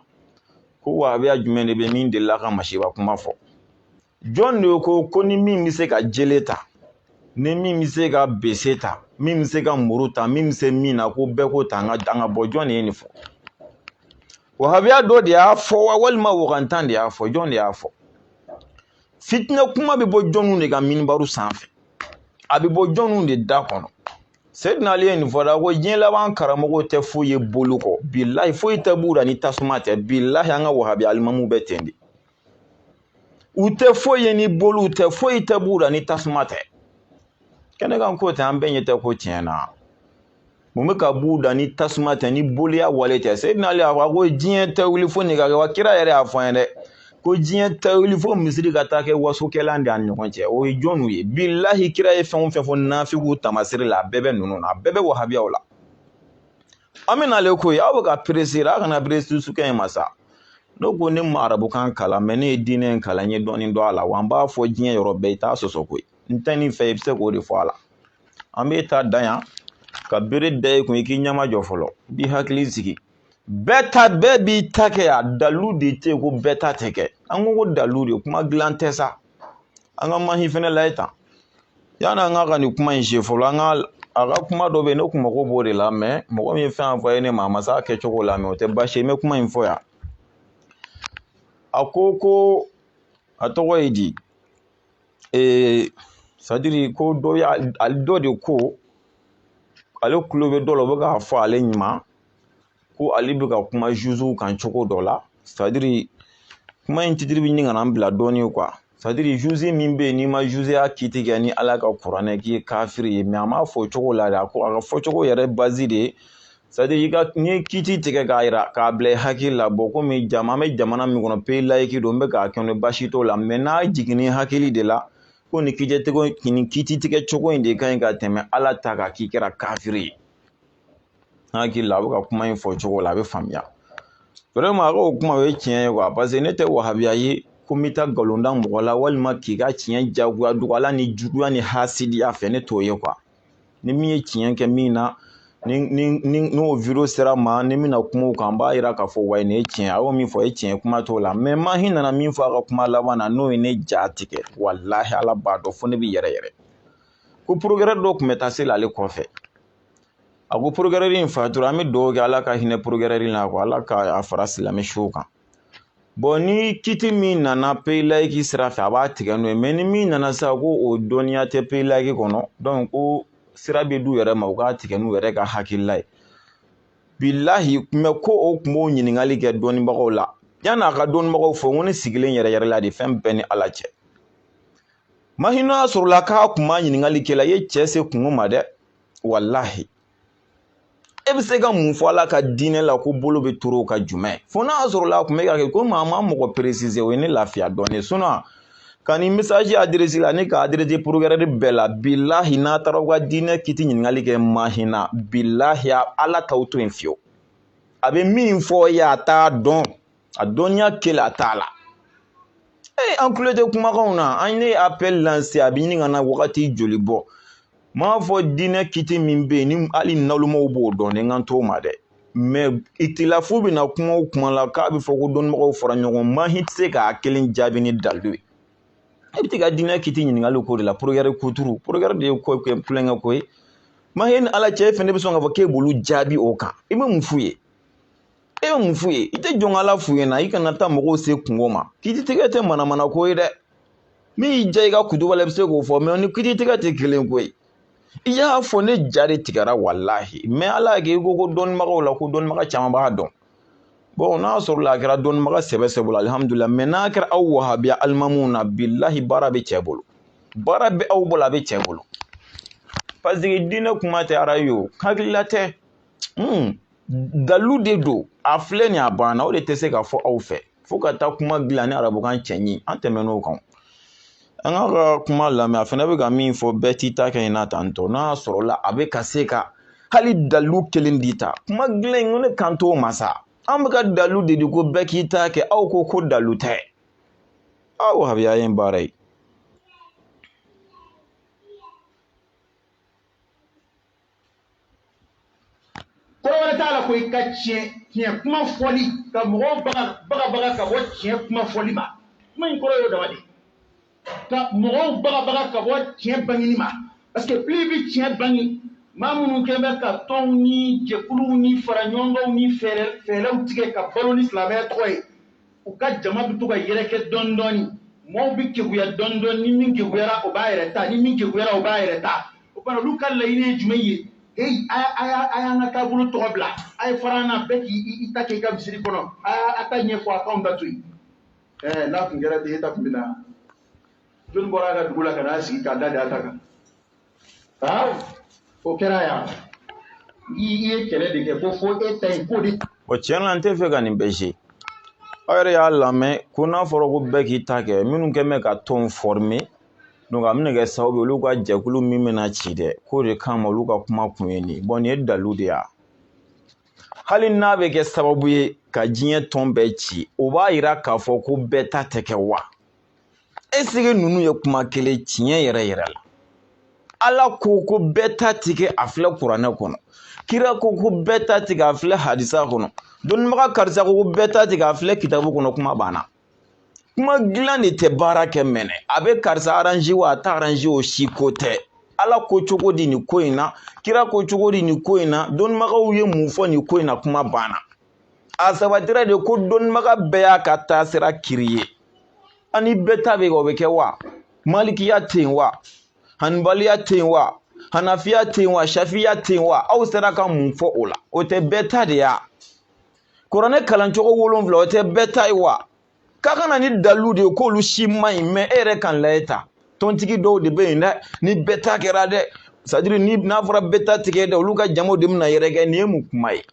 ko wahabiya jumɛn de bɛ min delila ka masiba kuma fɔ jɔn de ko ko ni min bɛ se ka jele ta ni min bɛ se ka bese ta min bɛ se ka muru ta min bɛ se min na ko bɛɛ k'o ta an ka an ka bɔ jɔn de ye nin fɔ wahabiya dɔ de y'a fɔ wa walima wagantan de y'a fɔ jɔn de y'a fɔ fitinɛ kuma bɛ bɔ jɔnw de ka minibaru sanfɛ a bɛ bɔ jɔnw de da kɔnɔ seyidina ali ye nin fɔ da ko diɲɛ laban karamɔgɔw tɛ foyi ye boli kɔ bilahi foyi tɛ b'u da ni tasuma tɛ bilahi an ka wahabiya alimamuw bɛ ten de u tɛ foyi ye ni boliw tɛ foyi tɛ b'u da ni tasuma tɛ kɛnɛkan ko tɛ an bɛɛ ɲɛ tɛ ko tiɲɛ na mun bɛ ka b'u da ni tasuma tɛ ni boliya wale tɛ seyidina ali y'a fɔ ko diɲɛ tɛ wuli fo nin ka kɛ wa kira yɛrɛ y'a fɔ an ye dɛ ko diɲɛ tɛ wuli fo misiri ka taa kɛ wasokɛlan de an ɲɔgɔn cɛ o ye jɔnw ye bilahi kira ye fɛn o fɛn fɔ nafigiw tamasiri la a bɛɛ bɛ ninnu na a bɛɛ bɛ wahabiyaw la an bɛ n'ale koyi aw bɛ ka perese a kana perese sukɛ in ma sa ne ko ne ma arabukan kalan mɛ ne ye diinɛ in kalan n ye dɔɔnin dɔn a la wa n b'a fɔ diɲɛ yɔrɔ bɛɛ i t'a sɔsɔ koyi n tɛ nin fɛ i bɛ se k'o de fɔ a la an bɛ taa dan yan ka bere da i kun i k'i ɲɛmajɔ fɔlɔ i b'i hakili sigi bɛɛ ta bɛɛ b'i ta kɛ a dalilu de tɛ yen ko bɛɛ ta tɛ kɛ an ko ko dalilu de kuma dilan tɛ sa an ka mahi fɛnɛ layɛ tan yann'an ka ka nin kuma in se fɔlɔ an ka a ka kuma dɔ bɛ yen ne kun mago b'o de la mɛ mɔgɔ min ye fɛn anvoye ne ma a ma se a kɛcogo la mɛ o tɛ baasi ye n bɛ kuma in fɔ yan a ko ko a tɔgɔ ye di ee sadiri ko dɔ y'a dɔ de ko ale kulo bɛ dɔ la o bɛ k'a fɔ ale ɲɛ na ko ale bɛ ka kuma zuziw kan cogo dɔ la sadiri kuma in titiri bɛ ɲini ka na bila dɔɔnin kuwa sadiri zuzi min bɛ yen n'i ma zuziya kiti kɛ ni ala ka kuranɛ k'i ye kafiri ye a m'a fɔ cogo la dɛ ko a ka fɔcogo yɛrɛ bazi de ye i ka n'i ye kiti tigɛ k'a yira k'a bila i hakili la bɔn komi jama an bɛ jamana min kɔnɔ peyi layiki don n bɛ k'a kɛ baasi t'o la mɛ n'a jiginni hakili de la ko nin tigɛcogo nin kiti tigɛ cogo in de ka ɲi ka tɛmɛ ala ta kan k'i kɛra kafiri ye N hakili la a bɛ ka kuma in fɔ cogo la a bɛ faamuya wɛrɛman a ka kuma o ye tiɲɛ ye kuwa paseke ne tɛ wahabiya ye ko n bɛ taa nkalon da mɔgɔ la walima k'i ka tiɲɛ jagoya dogo ala nijuguya ni hasidiya fɛ ne t'o ye kuwa ni min ye tiɲɛ kɛ min na n'o wideyo sera n ma ni n bɛna kuma o kan n b'a jira k'a fɔ wa nin ye tiɲɛ a y'o min fɔ ye tiɲɛ kuma t'o la mɛ mahi nana min fɔ a ka kuma laban na n'o ye ne jatigɛ walahi ala b'a dɔn fo ne bɛ yɛrɛyɛrɛ ko porokɛrɛri dɔ tun bɛ taa seli ale kɔfɛ a ko porokɛrɛri in fatura an bɛ dugawu kɛ ala ka hinɛ porokɛrɛri in na ko ala ka a fara silamɛ suw kan bɔn ni kiti min nana peyi layiki sira fɛ a b'a tigɛ n'o ye mɛ ni min nana sa ko o dɔnniya tɛ peyi layiki kɔnɔ dɔnki ko sira bɛ d'u yɛrɛ ma u k'a tigɛ n'u yɛrɛ ka hakilila ye bilahi tun bɛ ko o tun b'o ɲininkali kɛ dɔnnibagaw la yan'a ka dɔnnibagaw fɔ n ko ne sigilen yɛrɛyɛrɛla dɛ fɛn bɛ n ni ala cɛ mahi n'a sɔrɔla k'a kun b'a ɲininkali kɛ e la i ye cɛ se kungo ma dɛ walahi e bɛ se ka mun fɔ ala ka diinɛ la ko bolo bɛ turu ka jumɛn fo n'a sɔrɔla a kun bɛ ka kɛ komi a ma mɔgɔ peresize o ye ne lafiya dɔɔnin sinɔn ka nin mesaji aderesi la ne k'a aderesi porokɛrɛri bɛɛ la bilahi n'a taara aw ka diinɛ kiti ɲininkali kɛ mahi na bilahi ala t'aw to yen fiyewu a bɛ min fɔ yen a t'a dɔn a dɔnniya kelen a t'a la ee an kulo tɛ kumakanw na an ye appel lance a bɛ ɲini ka na wagati joli bɔ n m'a fɔ diinɛ kiti min bɛ yen ni hali nalumaw b'o dɔn ne kan t'o ma dɛ mɛ itilafu bɛ na kuma o kuma la k'a bɛ fɔ ko dɔnnibagaw fara ɲɔgɔn mahi tɛ se k'a kelen jaabi ni dalu ye e bɛ t'i ka diinɛ kiti ɲininkali ko de la porogɛri kuturu porogɛri de ye ko kulonkɛ ko ye mahi ni ala cɛ e fɛnɛ bɛ sɔn k'a fɔ k'e b'olu jaabi o kan i bɛ mun f'u ye e bɛ mun f'u ye i tɛ jɔn ka ala f'u ɲɛna i kana taa mɔgɔw se kungo ma kiti tigɛ tɛ manamana ko ye dɛ min y'i diya i ka kutuba la i bɛ se k'o fɔ mɛ ni kiti tigɛ tɛ kelen ko ye i y'a fɔ ne ja de tigɛra walahi mɛ ala y'a kɛ i ko ko dɔnnibagaw la ko dɔnnibaga caman b'a dɔn bɔn n'a sɔrɔla a kɛra dɔnnibaga sɛbɛ sɛbɛ bolo alihamudulila mɛ n'a kɛra aw wahabiya alimamuw na bilahi baara bɛ cɛ bolo baara bɛ aw bolo a bɛ cɛ bolo paseke diinɛ kuma tɛ arayo hakilila tɛ Hmm. dalu de don a filɛ nin a banna o de tɛ se ka fɔ aw fɛ fo ka taa kuma dilan ni arabukan cɛɲi an tɛmɛn'o kan an k'a ka kuma lamɛn a fana bɛ ka min fɔ bɛɛ t'i ta kɛ in na tan tɔ n'a sɔrɔla a bɛ ka se ka hali dalu kelen di ta kuma dilan in ko ne kan t'o ma sa an bɛ ka dalu de di ko bɛɛ k'i ta kɛ aw ko ko dalu tɛ aw wahabiya ye baara ye kɔrɔ wɛrɛ t'a la ko i ka tiɲɛ tiɲɛ kuma fɔli ka mɔgɔw baga bagabaga ka bɔ tiɲɛ kuma fɔli ma kuma in kɔrɔ y'o dama de ka mɔgɔw bagabaga ka bɔ tiɲɛ bangeni ma parce que plus i bɛ tiɲɛ bange maa minnu kɛlen bɛ ka tɔnw ni jɛkuluw ni faraɲɔgɔnkanw ni fɛɛrɛ fɛɛrɛw tigɛ ka balo ni silamɛya tɔgɔ ye u ka jama bɛ to ka yɛrɛkɛ dɔɔni dɔɔni mɔɔw bɛ keguya dɔɔni dɔɔni ni min keguyara o b'a yɛrɛ ta ni min keguyara o b'a yɛrɛ ta o fana olu ka laɲini ye jumɛn ye heyi a a y'a a y'an ka taabolo tɔgɔ bila a ye fara an na bɛɛ k'i i ta kɛ i ka misiri kɔnɔ a a ta ɲɛfɔ a k'anw ta to yen ɛɛ n'a tun kɛra ten e ta tun bɛ na joli bɔra a ka dugu la ka n'a sigi k'a da de a ta kan o kɛra yan i ye kɛlɛ de kɛ ko fo e ta in ko de bɔn tiɲɛ la n tɛ fɛ ka nin bɛɛ se aw yɛrɛ y'a lamɛn ko n'a fɔra ko bɛɛ k'i ta kɛ minnu kɛlen bɛ ka tɔn fɔrime donc a bɛna kɛ sababu ye olu ka jɛkulu min bɛna ci dɛ k'o de kama olu ka kuma kun ye nin bɔn nin ye dalu de y'a hali n'a bɛ kɛ sababu ye ka diɲɛ tɔn bɛɛ ci o b'a yira k'a fɔ ko bɛɛ ta tɛ kɛ wa eseke ninnu ye kuma kelen tiɲɛ yɛrɛ yɛrɛ la ala ko ko bɛɛ ta tɛ kɛ a filɛ kuranɛ kɔnɔ kira ko ko bɛɛ ta tɛ kɛ a filɛ hadisa kɔnɔ dɔnnibaga karisa ko ko bɛɛ ta tɛ kɛ a filɛ kitabu kɔnɔ kuma banna kuma dilan de tɛ baara kɛ mɛnɛ a bɛ karisa aranze wa a t'a aranze o si ko tɛ ala ko cogo di nin ko in na kira ko cogo di nin ko in na dɔnnibagaw ye mun fɔ nin ko in na kuma banna a sabatira de ko dɔnnibaga bɛɛ y'a ka taasira kiri ye ani bɛɛ ta bɛ o bɛ kɛ wa malikiya tɛ yen wa hanibaliya tɛ yen wa hanafiya tɛ yen wa shafiya tɛ yen wa aw sera ka mun fɔ o la o tɛ bɛɛ ta de ya kuranɛ kalancogo wolonwula o tɛ bɛɛ ta ye wa k'a ka na ni dalu de ye k'olu si man ɲi mɛ e yɛrɛ kan layɛ ta tɔntigi dɔw de bɛ yen dɛ ni bɛɛ ta kɛra dɛ sadiri ni n'a fɔra bɛɛ ta tɛ kɛ dɛ olu ka jamaw de bɛna yɛrɛkɛ nin ye mun kuma ye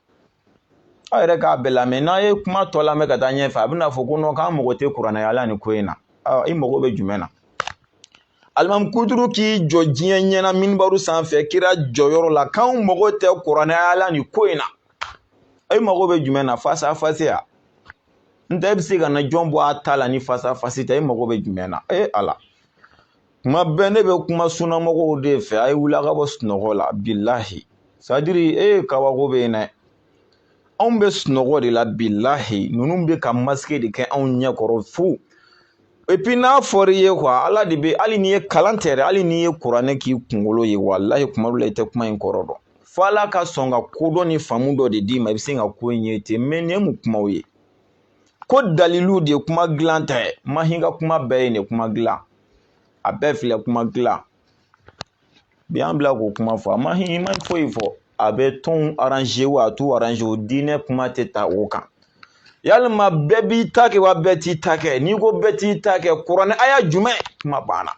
aw yɛrɛ k'a bɛɛ lamɛn n'a ye kuma tɔ lamɛn ka taa ɲɛfɛ a bɛna fɔ ko nɔ k'an mago tɛ kuranɛ aya la nin ko in na i mago bɛ jumɛn na alimami kuturu k'i jɔ diɲɛ ɲɛna minibaru sanfɛ kira jɔyɔrɔ la k'anw mago tɛ kuranɛ aya la nin ko in na i mago bɛ jumɛn na fasafasiya n tɛ e bɛ se ka na jɔn bɔ a ta la ni fasafasi tɛ e mago bɛ jumɛn na e ala kuma bɛɛ ne bɛ kuma sunnamɔgɔw de fɛ a ye wuli a ka bɔ sunɔgɔ la bilahi sadiri e ye kabako bɛ yen dɛ anw bɛ sunɔgɔ de la bilahi ninnu bɛ ka masike de kɛ anw ɲɛ kɔrɔ fo epi n'a fɔra i ye kuwa ala de bɛ hali n'i ye kalan tɛ dɛ hali n'i ye kuranɛ k'i kunkolo ye walahi kuma dɔ la i tɛ kuma in kɔrɔ dɔn fo ala ka sɔn ka kodɔn ni faamu dɔ de d'i ma i bɛ se ka ko in ye ten mɛ nin ye mun kumaw ye ko dalilu de ye kuma dilan tɛ mahi ka kuma bɛɛ ye nin kuma dilan a bɛɛ filɛ kuma dilan bi an bila k'o kuma fɔ a mahi ma foyi fɔ a bɛ tɔnw aranze wa a t'u aranze o diinɛ kuma tɛ ta o kan yalima bɛɛ b'i ta kɛ wa bɛɛ t'i ta kɛ n'i ko bɛɛ t'i ta kɛ kuranɛ aya jumɛn kuma banna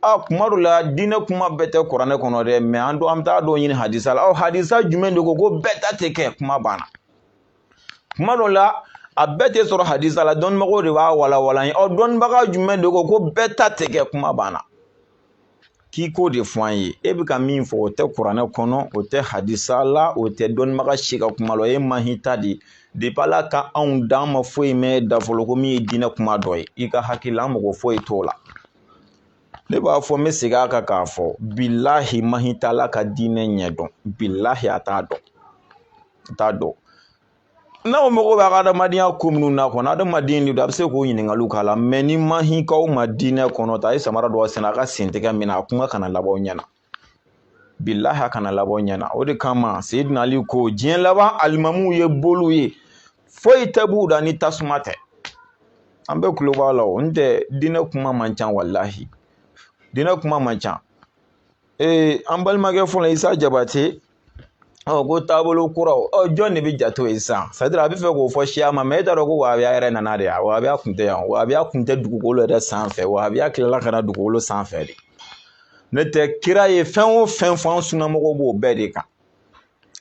a kuma dɔ la diinɛ kuma bɛɛ tɛ kuranɛ kɔnɔ dɛ mɛ an don an bɛ taa dɔw ɲini hadisa la ɔ hadisa jumɛn de ko ko bɛɛ ta tɛ kɛ kuma banna kuma dɔ la a bɛɛ tɛ sɔrɔ hadisa la dɔnnibagaw de b'a walawala an ye ɔ dɔnnibaga jumɛn de ko ko bɛɛ ta tɛ kɛ kuma banna k'i k'o de fɔ an ye e bɛ ka min fɔ o tɛ kuranɛ kɔnɔ o tɛ hadisa la o tɛ dɔnnibaga si ka kuma la o ye mahi ta de ye depi ala ka anw da an ma foyi mɛn i da fɔlɔ ko min ye diinɛ kuma dɔ ye i ka hakili la an mago foyi t'o la ne b'a fɔ n bɛ segin a kan k'a fɔ bilahi mahi tɛ ala ka diinɛ ɲɛ dɔn bilahi a t'a dɔn n t'a dɔn n'aw mago b'a ka adamadenya ko minnu na kɔnɔ adamaden de don a bɛ se k'o ɲininkaliw k'a la mɛ ni mahi k'aw ma diinɛ kɔnɔ ta a ye samara dɔ sɛnɛ a ka sen tɛgɛ min na a kuma kana labɔ ɲɛna bilahi a kana labɔ ɲɛna o de kama seyidina ali ko diɲɛ laban alimamuw ye boliw ye foyi tɛ b'u da ni tasuma tɛ an bɛ kulo b'a la o n tɛ diinɛ kuma man ca walahi diinɛ kuma man ca ee an balimakɛ fɔlɔ isa jabate ɔ ko taabolo kuraw ɔ jɔn de bɛ jate o ye sisan c'est à dire a bɛ fɛ k'o fɔ siya ma mɛ e t'a dɔn ko wahabiya yɛrɛ nana de yan wahabiya kun tɛ yan wahabiya kun tɛ dugukolo yɛrɛ sanfɛ wahabiya tilala ka na dugukolo sanfɛ de n'o tɛ kira ye fɛn o fɛn fɔ an sunnamɔgɔw b'o bɛɛ de kan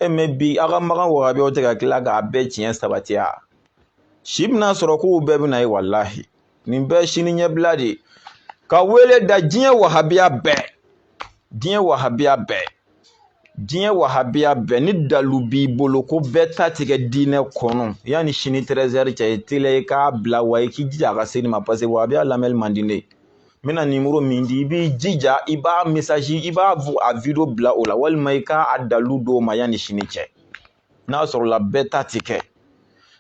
e mɛ bi aw ka magan wahabiyaw tɛ ka tila k'a bɛɛ tiɲɛ sabatiya si bɛna sɔrɔ k'u bɛɛ bɛna ye walahi nin bɛɛ sini ɲɛbila de ye ka wele da diɲɛ wahabiya bɛɛ diɲɛ wahabiya bɛɛ diɲɛ wahabiya bɛɛ ni dalu b'i bolo ko bɛɛ ta ti kɛ diinɛ kɔnɔ yanni sini tɛrɛzɛri cɛ i teliya i k'a bila wa i k'i jija a ka se ne ma paseke wahabiya lamɛnni man di ne ye n bɛna nimoro min di i b'i jija i b'a mesazi i b'a a wideyo bila o la walima i k'a dalu d'o ma yanni sini cɛ n'a sɔrɔla bɛɛ ta ti kɛ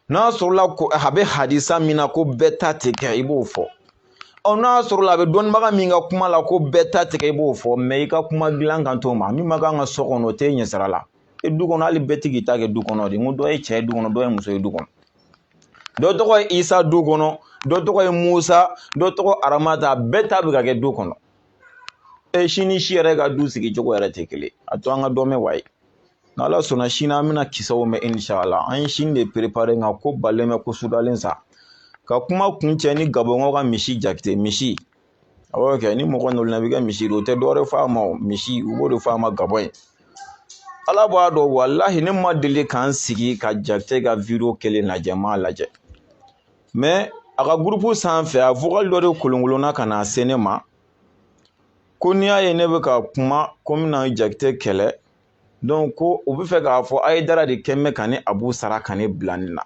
n'a sɔrɔla ko a bɛ hadisa min na ko bɛɛ ta ti kɛ i b'o fɔ ɔ n'a sɔrɔla a bɛ dɔnnibaga min ka kuma la ko bɛɛ ta ti kɛ i b'o fɔ mɛ i ka kuma dilan kan t'o ma min ma kan ka so kɔnɔ o t'e ɲɛ sira la e du kɔnɔ hali bɛɛ ti k'i ta kɛ du kɔnɔ de n ko dɔ ye cɛ ye du kɔnɔ dɔ ye muso ye du kɔnɔ dɔ tɔgɔ ye isa du kɔnɔ dɔ tɔgɔ ye musa dɔ tɔgɔ aramata bɛɛ ta bɛ ka kɛ du kɔnɔ e si ni si yɛrɛ ka du sigi cogo yɛrɛ tɛ kelen a to an ka dɔ mɛn wayi N'ala sɔnna sini an bɛna kisɛw mɛn inshala an ye sini de perepare nka ko balen bɛ ko sudalen sa ka kuma kuncɛ ni gabɔnkaw ka misi jakite misi awɔ kɛ ni mɔgɔ nana i bɛ kɛ misi don o tɛ dɔwɛrɛ fɔ a ma o misi u b'o de fɔ a ma gabɔn yen ala b'a dɔn walahi ne ma deli ka n sigi ka jakite ka video kelen lajɛ n m'a lajɛ mɛ a ka gurupu sanfɛ a vokali dɔ de kolonkolonna ka na se ne ma ko n'i y'a ye ne bɛ ka kuma ko n bɛna jakite kɛlɛ donc ko u bɛ fɛ k'a fɔ ayidara de kun bɛ ka ne abu sara ka ne bila nin na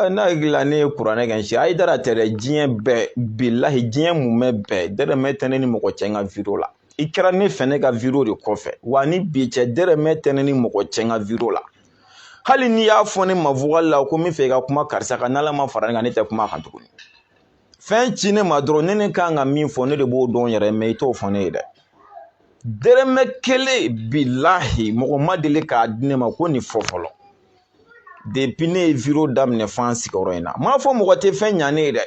n'a hakilila ne ye kuranɛ kɛ si ayidara tɛ dɛ diɲɛ bɛɛ bilahi diɲɛ mumɛ bɛɛ dɛrɛmɛ tɛ ne ni mɔgɔ cɛ n ka wideyo la i kɛra ne fɛ ne ka wideyo de kɔfɛ wa ni bi cɛ dɛrɛmɛ tɛ ne ni mɔgɔ cɛ n ka wideyo la hali n'i y'a fɔ ne ma vokali la ko n bɛ fɛ i ka kuma karisa kan n'ala ma fara ne kan ne tɛ kuma a kan tuguni fɛn ci ne ma dɔrɔn ne ne kan ka min fɔ ne de b'o dɔn yɛrɛ mɛ i t'o fɔ ne ye dɛ dɛrɛmɛ kelen bilahi mɔgɔ ma deli k'a di ne ma ko nin fɔ fɔlɔ depi ne ye video daminɛ fo an sigiyɔrɔ in na m'a fɔ mɔgɔ tɛ fɛn ɲa ne ye dɛ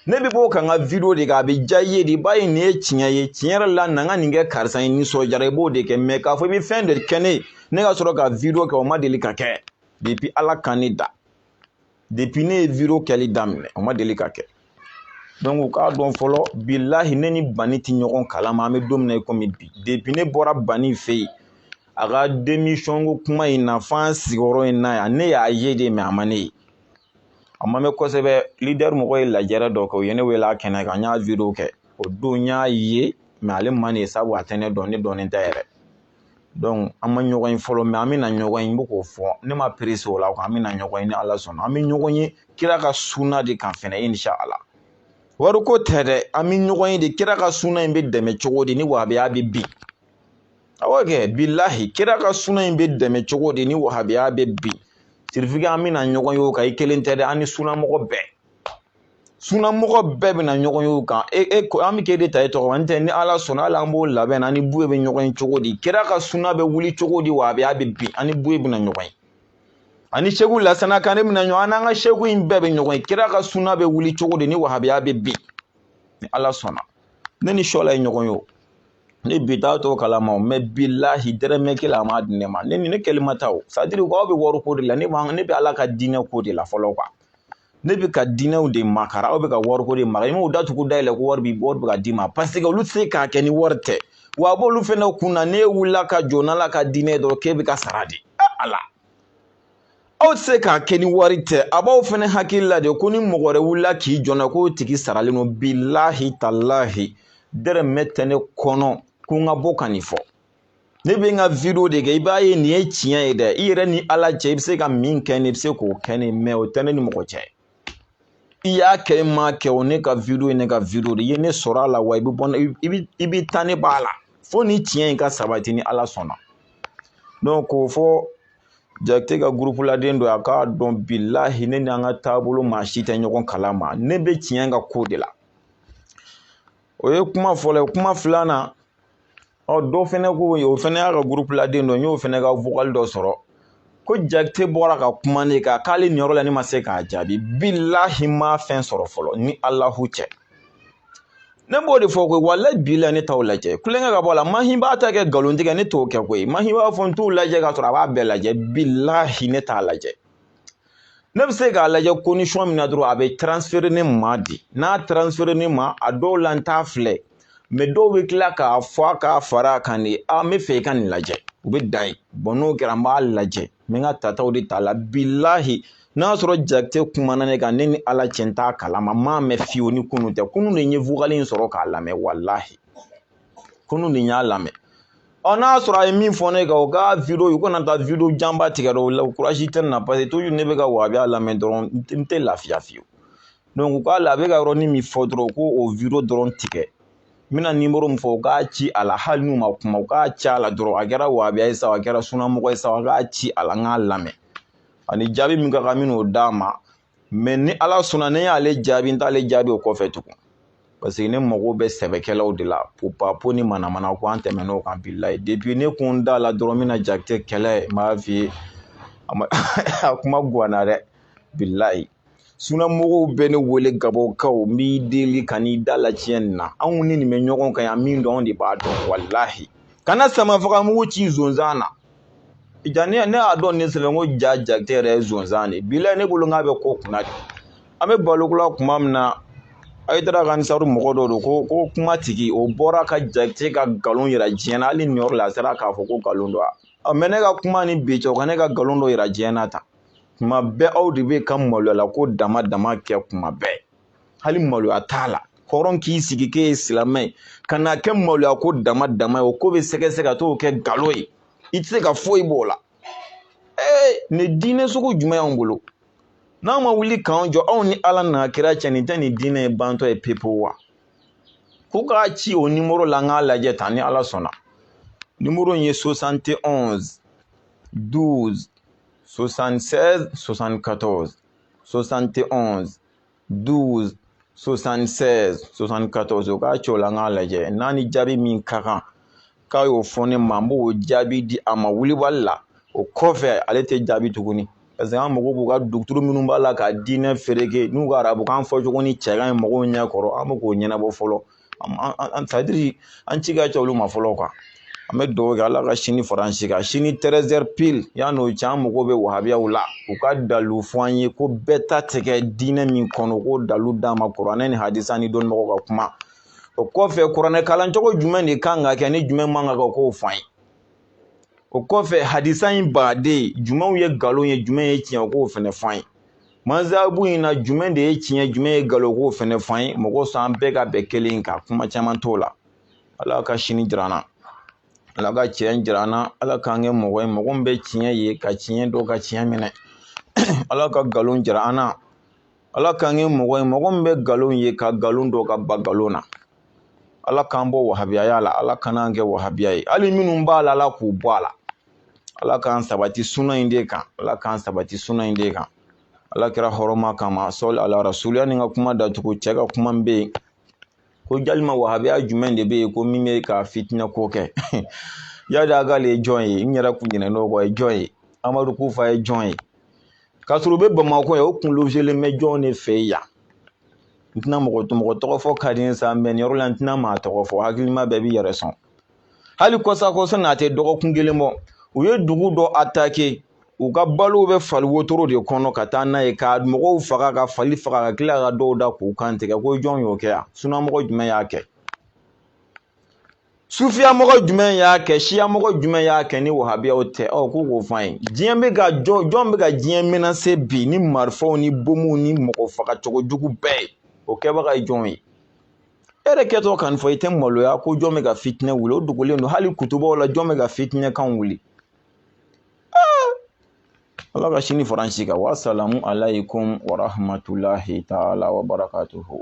ne bɛ bɔ ka n ka video de kɛ a bɛ diya i ye de i b'a ye nin ye tiɲɛ ye tiɲɛ yɛrɛ la na n ka nin kɛ karisa ye nisɔndiyara i b'o de kɛ mɛ k'a fɔ i bɛ fɛn de kɛ ne ye ne ka sɔrɔ ka video kɛ o ma deli ka kɛ depi ala ka ne da depuis ne ye video kɛli daminɛ o ma deli ka kɛ donc u k'a dɔn fɔlɔ bilahi ne ni bani tɛ ɲɔgɔn kalama an bɛ don min na i komi bi depuis ne bɔra bani fɛ yen a ka démission ko kuma in na fo an sigiyɔrɔ in na yan ne y'a ye de mɛ a ma ne ye a ma mɛn kosɛbɛ lidɛri mɔgɔ ye lajɛrɛ dɔ kɛ u ye ne wele a kɛnɛ kan n y'a video kɛ o don n y'a ye mɛ ale ma ne ye sabu a tɛ ne dɔn ne dɔnnen tɛ yɛrɛ an ma ɲɔgɔn ye fɔlɔ mɛ an bɛna ɲɔgɔn ye n bɛ k'o fɔ ne ma perese o la an bɛna ɲɔgɔn ye ni ala sɔnna an bɛ ɲɔgɔn ye kira ka suna de kan fɛnɛ inshallah wari ko tɛ dɛ an bɛ ɲɔgɔn ye de kira ka suna in bɛ dɛmɛ cogo di ni wahabiya bɛ bin awɔ kɛ bilahi kira ka suna in bɛ dɛmɛ cogo di ni wahabiya bɛ bin sirifi an bɛna ɲɔgɔn ye o kan i kelen tɛ dɛ an ni sunamɔgɔ bɛɛ sunamɔgɔ bɛɛ bɛna ɲɔgɔn ye o kan e e ko an bɛ k'e de ta e tɔgɔ n tɛ ni ala sɔnna hali an b'o labɛn an ni buye bɛ ɲɔgɔn ye cogo di kira ka suna bɛ wuli cogo di wahabiya bɛ bin an ni buye bɛna ɲɔgɔn ye ani seku lasana kane bɛna ɲɔgɔn an n'an ka seku in bɛɛ bɛ ɲɔgɔn ye kira ka suna bɛ wuli cogo di ni wahabiya bɛ bin ni ala sɔnna ne ni shola ye ɲɔgɔn ye o ne bi t'a to kalama mɛ bilahi dɛrɛmɛ kelen a ma di ne ma ne ni ne kɛli ma taa o sadiri k'aw bɛ wari ko de la ne bɛ ala ka diinɛ ko de la fɔlɔ kuwa ne bɛ ka diinɛw de makara aw bɛ ka wariko de makara i m'o datugu dayɛlɛ ko wari bi wari bɛ ka d'i ma paseke olu tɛ se k'a kɛ ni wari tɛ wa a b'olu fɛnɛ kun na n'e wulila ka jɔ n'ala ka diinɛ dɔrɔn k'e bɛ ka sara de ala aw tɛ se k'a kɛ ni wari tɛ a b'aw fɛnɛ hakili la de ko ni mɔgɔ wɛrɛ wulila k'i jɔ na k'o tigi saralen don bilahi talahi dɛrɛmɛ tɛ ne kɔnɔ ko n ka bɔ ka nin fɔ ne bɛ n ka video de kɛ i b'a ye nin ye tiɲɛ ye dɛ i yɛrɛ ni ala cɛ i bɛ se ka min kɛ ne i bɛ se k'o kɛ ne mɛ o tɛ ne ni mɔgɔ cɛ i y'a kɛ i m'a kɛ o ne ka video ye ne ka video de i ye ne sɔrɔ a la wa i bɛ bɔ i bɛ i bɛ taa ne b'a la fo ni tiɲɛ in ka sabati ni ala sɔnna donc k'o fɔ jakite ka gurupuladen dɔ a k'a dɔn bilahi ne ni an ka taabolo maa si tɛ ɲɔgɔn kalama ne bɛ tiɲɛ ka ko de la o ye kuma fɔlɔ ye kuma filanan ɔ dɔ fɛnɛ ko o fɛnɛ y'a ka gurupuladen dɔ n y'o fɛnɛ ka vokali dɔ sɔrɔ ko jakite bɔra ka kuma ne kan k'ale niyɔrɔ la ne ma se k'a jaabi bilahi n ma fɛn sɔrɔ fɔlɔ ni alahu cɛ ne b'o de fɔ koyi walahi bilahi ne t'aw lajɛ kulonkɛ ka bɔ a la mahi b'a ta kɛ nkalon tigɛ ne t'o kɛ koyi mahi b'a fɔ n t'u lajɛ ka sɔrɔ a b'a bɛɛ lajɛ bilahi ne t'a lajɛ ne bɛ se k'a lajɛ condition min na dɔrɔn a bɛ transfere ne ma de n'a transfere ne ma a dɔw la n t'a filɛ mɛ dɔw bɛ tila k'a fɔ a k'a fara a kan de a n bɛ fɛ i ka nin lajɛ u bɛ dan yen bɔn n'o kɛra n b'a lajɛ n bɛ n ka tataw de ta la bilahi n'a sɔrɔ jakite kumana ne kan ne ni ala cɛ n t'a kalama n m'a mɛn fiyewu ni kunun tɛ kunun de n ye vokali in sɔrɔ k'a lamɛn walahi kunun de n y'a lamɛn ɔ n'a sɔrɔ a ye min fɔ ne kan o ka video u kana taa video janba tigɛ dɛ o la kurazi tɛ n na paseke toujours ne bɛ ka wahabiya lamɛn dɔrɔn n tɛ lafiya fiyewu donc u k'a la a bɛ ka yɔrɔnin min fɔ dɔrɔn u k'o o video dɔrɔn tigɛ n bɛna nimoro min fɔ u k'a ci a la hali n'u ma kuma u k'a ci a la dɔrɔn a kɛra wahabiya ye sa a kɛra sunamɔgɔ ye sa a k'a ci a la n k'a lamɛn ani jaabi min ka kan n bɛn'o d'a ma mais ni ala sɔnna ne y'ale jaabi n t'ale jaabi o kɔfɛ tugun parce que ne mago bɛ sɛbɛkɛlaw de la popapo ni manamana ko an tɛmɛnna o kan bilayi depuis ne ko n da la dɔrɔn n bɛna jakite kɛlɛ n b'a f'i ye a kuma guwanna dɛ bilayi sunamɔgɔw bɛ ne wele gabɔnkaw n b'i deli kan'i da la tiɲɛ nin na anw ni nin bɛ ɲɔgɔn kan yan min dɔn anw de b'a dɔn walahi kana samafagamugu ci zonzan na ja ne ne y'a dɔn ne sɛbɛn ko ja jakite yɛrɛ ye zonzan de bilayi ne bolo nk'a bɛ ko kunna de an bɛ balo kula kuma min na hayidara ka ansari mɔgɔ dɔ don ko ko kuma tigi o bɔra ka jakite ka nkalon yira diɲɛ na hali ni yɔrɔ la a sera k'a fɔ ko nkalon don a mais ne ka kuma ni bi cɛ o ka ne ka nkalon dɔ yira diɲɛ na tan kuma bɛɛ aw de bɛ ka maloya ko dama dama kɛ kuma bɛɛ hali maloya t'a la hɔrɔn k'i sigi k'e ye silamɛ ye ka na kɛ maloya ko dama dama ye o ko bɛ sɛgɛsɛgɛ ka t'o kɛ nkalon ye i tɛ se ka foyi b'o la ee nin diinɛ sugu jumɛn y'anw bolo n'an ma wuli k'an jɔ anw ni ala n'a kira cɛ nin tɛ nin diinɛ ye bantɔ ye pepe wa ko k'a ci o nimoro la n k'a lajɛ tan ni ala sɔnna nimoro in ye 71 12 76 74 71 12 76 74 o k'a ci o la n k'a lajɛ n'a ni jaabi min ka kan k'a y'o fɔ ne ma n b'o jaabi di a ma wulibali la o kɔfɛ ale tɛ jaabi tuguni parce que an mago b'u ka duguturu minnu b'a la ka diinɛ fereke n'u ka arabukan fɔcogo nin cɛ ka ɲi mɔgɔw ɲɛ kɔrɔ an bɛ k'o ɲɛnabɔ fɔlɔ c'est-à-dire an ci ka ca olu ma fɔlɔ quoi an bɛ dugawu kɛ ala ka sini fara an si kan sini 13h pile yanni o cɛ an mago bɛ wahabiyaw la u ka dalu fɔ an ye ko bɛɛ ta tɛ kɛ diinɛ min kɔnɔ ko dalu d'a ma kuranɛ ni hadisa ni dɔnnibagaw ka kuma o kɔfɛ kuranɛ kalancogo jumɛn de kan ka kɛ ni jumɛn man ka kɛ k'o fɔ an ye o kɔfɛ hadisa in baden jumɛnw ye nkalon ye jumɛn ye tiɲɛ k'o fɛnɛ fɔ an ye mazhabu in na jumɛn de ye tiɲɛ jumɛn ye nkalon k'o fɛnɛ fɔ an ye mɔgɔ s'an bɛɛ ka bɛn kelen kan kuma caman t'o la ala ka sini jira an na ala ka tiɲɛ jira an na ala k'an kɛ mɔgɔ ye mɔgɔ min bɛ tiɲɛ ye ka tiɲɛ dɔn ka tiɲɛ minɛ ala ka nkalon jira an na ala k'an kɛ mɔgɔ ye mɔgɔ min bɛ nkalon ye ka nkalon dɔn ka ban nkalon na ala k'an bɔ wahabiyaya la ala kan'an kɛ wahabiya ye hali minnu b'a la ala k'u bɔ a la ala k'an sabati suna in de kan ala k'an sabati suna in de kan ala kira hɔrɔma kama sɔli ala rasuli yanni ka kuma datugu cɛ ka kuma bɛ yen ko jalima wahabiya jumɛn de bɛ yen ko min bɛ ka fitinɛ ko kɛ iyadi agali ye jɔn ye n yɛrɛ kun ɲinɛn'o kɔ ye jɔn ye amadu kufa ye jɔn ye k'a sɔrɔ u bɛ bamakɔ yen o kun lozelen bɛ jɔn de fɛ yan n tɛna mɔgɔ mɔgɔ tɔgɔ fɔ ka di n sa mais nin yɔrɔ la n tɛna maa tɔgɔ fɔ hakilima bɛɛ b'i yɛrɛ sɔn hali kɔsakɔsa na a tɛ dɔgɔkun kelen bɔ u ye dugu dɔ atake u ka balo bɛ fali wotoro de kɔnɔ ka taa n'a ye ka mɔgɔw faga ka fali faga ka tila ka dɔw da k'u kan tigɛ ko jɔn y'o kɛ yan sunamɔgɔ jumɛn y'a kɛ sufiyamɔgɔ jumɛn y'a kɛ siyamɔgɔ jumɛn y'a kɛ ni wahabiyaw tɛ ɔ ko k'o f'an ye diɲɛ bɛ ka jɔn jɔn bɛ ka diɲɛ menase bi ni marifaw ni bomuw ni mɔgɔ faga cogo jugu bɛɛ ye o kɛbaga ye jɔn ye e yɛrɛ kɛtɔ kan fɔ i tɛ maloya ko jɔn bɛ ka fitinɛ wuli o dogolen don hali kutubaw la jɔn bɛ ka fitinɛ kan wuli ala ka sini fara an si kan wasalamu alayikumu warahamatulahi taala wa barakatuhu